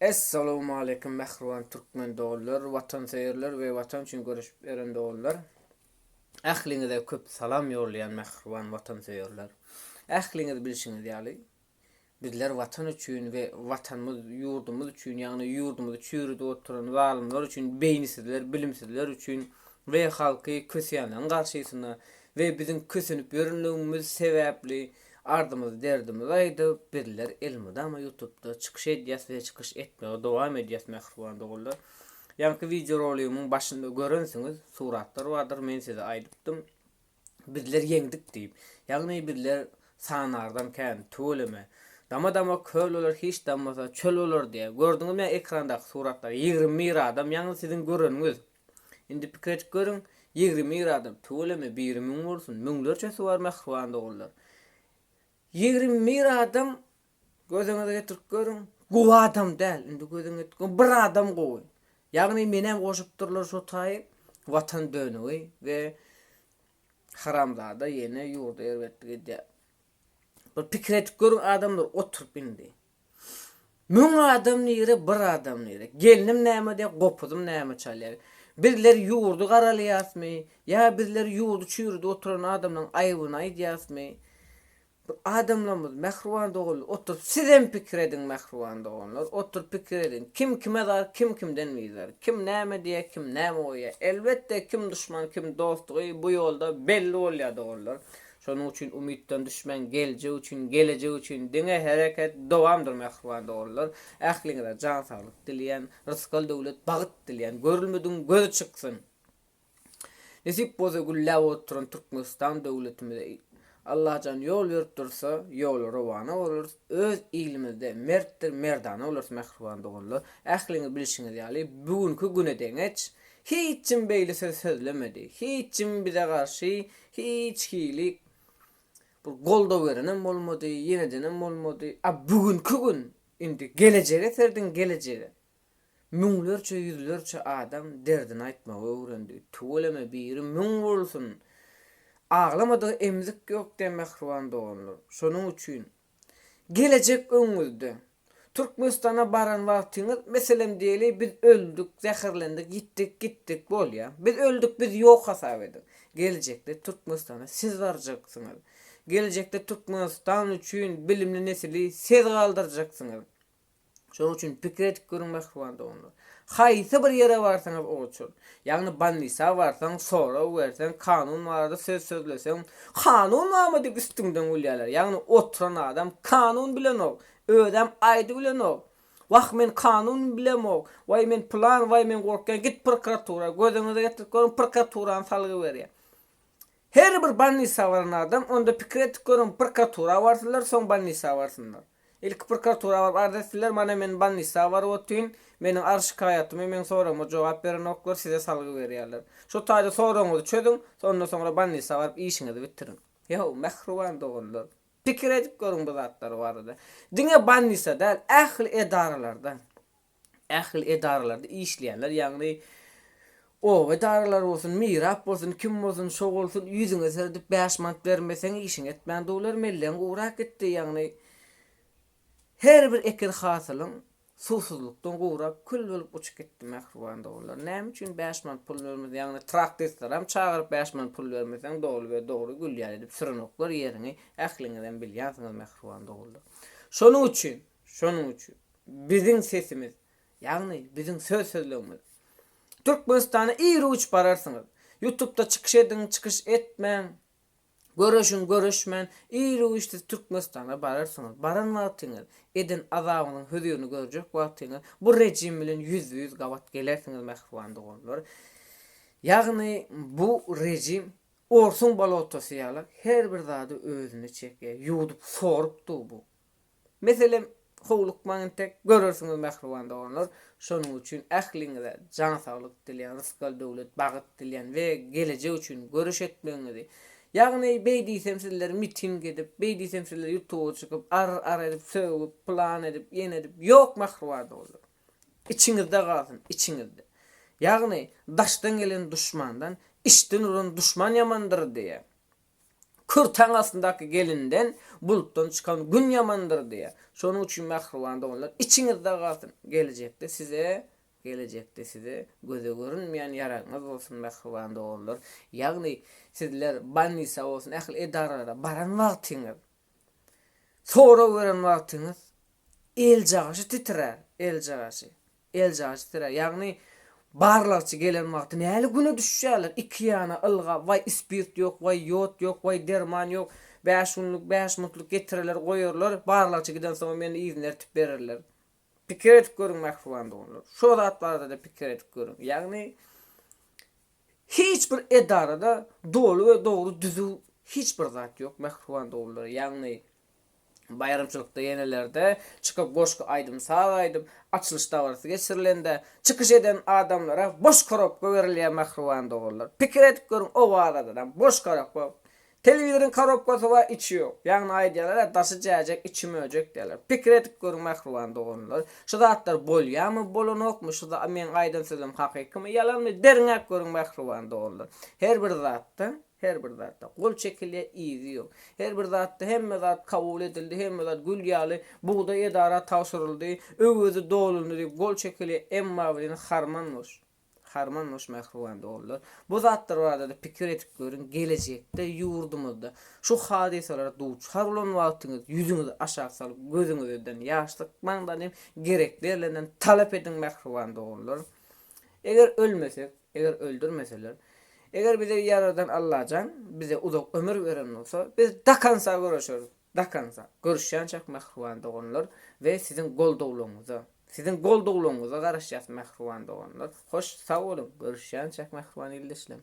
Essalowmaleýkim mähriban türkmen doganlar, watansöýerler we watan üçin göreşip ýören doganlar! Ähliňize köp salam ýollaýan mähriban watansöýerler! Ähliňiz bilşiňiz ýaly, bizler watan üçin we watanymyz, ýurdumyz üçin, ýagny ýurdumyzy çüýrüdip oturan zalymlar üçin, beýnisizler, bilimsizler üçin we halky köseýänleriň garşysyna we biziň kösenip ýörenligimiz sebäpli, Ardymyzy derdimizi aýdyp bizler elmydama ýutubda çykyş edýäs we çykyş etmegi dowam edýäs mähriban doganlar. Ýaňky wideo roligimiň başynda görensiňiz suratlar bardyr men size aýdypdym bizler ýeňdik diýip. Ýagny bizler sanardan kän tüweleme dama dama köl bolar hiç dammasa çöl bolar diýýä. Gördüňizmi ekrandaki suratlar ýigrimi bir adam ýagny siziň göreniňiz. Indi pikir edip görüň, ýigrimi ir adam, tüweleme, biri müň bolsun, müňlerçesi bar mähriban doganlar. Ýigrimi ir adam, gözüňize getirip görüň, gowy adam däl. Indi gözüňe getirip görüň, bir adam gowy. Ýagny menem goşupdyrlar şo taýy, Watan dönügi we haramzada ýene ýurda erbetlik edýär. Bir pikir edip görüň adamlar, oturyp indi. Müň adam nire, bir adam nire? Gelnim näme diýýär, gopuzym näme çalýar? Bizler ýurdy garalýasmy? Ýa bizler ýurdy çüýrüdip oturan adamlaryň aýbyny aýdýasmy? Bir adamlarymyz mähriban doganlar oturyp sizem pikir ediň mähriban doganlar oturyp pikir ediň kim kime zar kim kimden bizar kim näme diýýär kim näme goýýar elbetde kim duşman kim dostlugy bu ýolda belli bolýar doganlar Şonuň üçin umytdan düşmäň geljek üçin gelejek üçin diňe hereket dowamdyr mähriban dogrular ähliňize jan saglyk dileýän rysgal döwlet bagyt dileýän görülmedigiň gözi çyksyn nesip bolsa gülläp oturan Türkmenistan döwletimize Allajan ýol berip dursa ýola rowana bolarys öz ilimizde mertdir merdana bolarys mähriban dogrular ähliňiz bilşiňiz ýaly bugünki günedeňeç hiç kim beýle söz sözlemedi hiç kim bize garşy Hiç hili bir goldaw berenem bolmady, ýenedenem bolmady. A bu günki gün indi gelejege serediň, gelejege. Müňlerçe, ýüzlerçe adam derdini aýtmagy öwrendi. Tüweleme biri müň bolsun! Aglamadygy emzik ýok diýen mähriban doganlar. Şonuň üçin Gelejek öňüňizde. Türkmenistana baran wagtyňyz, meselem diýeli, biz öldük, zäherlendik, ýitdik, gitdik, bolýa. Biz öldük, biz ýok hasap ediň. Gelejekde Türkmenistana siz barjaksyňyz. Gelejekde Türkmenistan üçin bilimli nesili siz galdyrjaksyňyz. Şonuň üçin pikir edip görüň mähriban doganlar. Haýsy bir ýere barsaňyz o uçur. Ýagny bannisa barsaň, sorag berseň, kanun barada söz sözleseň, kanun barmy diýip üstüňden gülýärler. Ýagny oturan adam kanun bilenok, özem aýdybilenok. Wah men kanun bilemok, waý men pylan, waý men gorkýan, git prokuratura, gözüňize getirip görüň prokuraturany salgy berýär. Her bir bolnisa baran adam, onda pikir edip görüň, prokuratura barsynlar, soň bolnisa barsynlar. Ilki prokuratura baryp arz etsinler, mana men bolnisa baryp otyryn, meniň arz-şikaýatymy, meň soragyma jogap berenoklar, size salgy berýärler. Şu taýda soragyňyzy çözüň, ondan soňra bolnisa baryp işiňizi bitiriň. Ýa-how, mähriban doganlar, pikir edip görüň bu zatlar barada. Diňe bolnisa däl, ähli edaralarda. ähli edaralarda işleýänler, ýagny oba edaralary bolsun, mirap bolsun, kim bolsun, şo bolsun, ýüzüňe seredip bäş manat bermeseň işiň etmän duwlar, mellegiň gurak gitdi, ýagny her bir eken hasylyň suwsuzlykdan gurak, kül bolup uçup gitdi mähriban dowlar. Näme üçin bäş manat pul bermeseň, ýagny traktistlerem çagyryp bäş manat pul bermeseň doly we dogry gülýär edip sürenoklar ýeriňi ähliňizem bilýänsiňiz mähriban dowlar. Şonuň üçin, şonuň üçin. Biziň sesimiz, ýagny biziň söz sözlegimiz. Türkmenistana ir uç bararsyňyz. Ýutubda çykyş ediň çykyş etmäň, göreşiň göreşmän ir uç siz Türkmenistana bararsyňyz. Baran wagtyňyz, eden azabyňyzyň hözirini görjek wagtyňyz bu rejim bilen ýüzbe ýüz gabat gelersiňiz mähriban doganlar. Ýagny bu rejim orsuň bolotosy ýaly her bir zady özüne çekýär. Ýuwdup sorup dur bu. Meselem, howlukmaň entek, görersiňiz mähriban doganlar, şonuň üçin ähliňize jan saglyk dilýän, rysgal döwlet, bagyt dilýän we gelejek üçin göreş etmegiňizi, ýagny beý diýsem sizler miting edip, beý diýsem sizler ýutuba çykyp, ar ar edip, sögüp, pylan edip, ýene edip, ýok mähriban doganlar. Içiňizde galsyn, içiňizde. Ýagny, daşdan gelen duşmandan, içden uran duşman ýamandyr diýýän. Kür taň astyndaky gelinden bulutdan çykan Gün ýamandyr diýýär. Şonuň üçin mähriban doganlar, içiňizde galsyn, gelejekde size, gelejekde size göze görünmeýän ýaragyňyz bolsun mähriban doganlar. Ýagny sizler bolnisa bolsun ähli edaralara baran wagtyňyz, sorag beren wagtyňyz eljagaşy titrär, eljagaşy. Eljaç sire, ýagny barlagçy gelen wagty näli güne düşýärler? Iki ýana ylgap, waý ispirt ýok, waý ýod ýok, waý derman ýok, bäş günlük, bäş muntlyk getireler, goýarlar, barlagçy gidensoňam ýene yzyny ertip bererler. Pikir edip görüň mähriban doganlar, şo zat barada-da pikir edip görüň. Ýagny hiç bir edarada doly we dogry düzüw hiç bir zat ýok mähriban doganlar. Ýagny Baýramçylykda ýenelerde çykyp goşgy aýdym-saz aýdyp, açylyş dabarasy geçirilende, çykyş eden adamlara boş korobka berilýär mähriban doganlar. Pikir edip görüň owazadanam boş korobka. Telewizoryň korobkasy bar içi ýok. Ýagny aýdýarlar-a daşy jäjek içi möjek diýýärler. Pikir edip görüň mähriban doganlar. Şu zatlar bolýamy bolanokmy şu meň aýdan sözüm hakykymy ýalanmy deriňäp görüň mähriban doganlar. Her bir zatda. Her bir zatda gol çekilýär, yzy ýok. Her bir zatda hemme zat kabul edildi, hemme zat gül ýaly, bugdaý edara tabşyryldy, öwezi dolundy diýip gol çekilýär, emma welin harman boş. Harman boş mähriban doganlar. Bu zatlar barada-da pikir edip görüň, gelejekde ýurdumyzda şu hadysalara duçar bolan wagtyňyz ýüzüňizi aşak salyp, gözüňizeden ýaş sykmaň-da diýip, gerek berlenden talap ediň mähriban doganlar. Eger ölmesek, Eger öldürmeseler. Eger bize ýaradan Allajan bize uzak ömür beren bolsa, biz dakansa göreşeris. Dakansa. Görüşýänçäk mähriban doganlar we siziň goldawlaryňyza. Siziň goldawlaryňyza garaşýas mähriban doganlar. Hoş sag boluň. Görüşýänçäk mähriban ildeşlerim.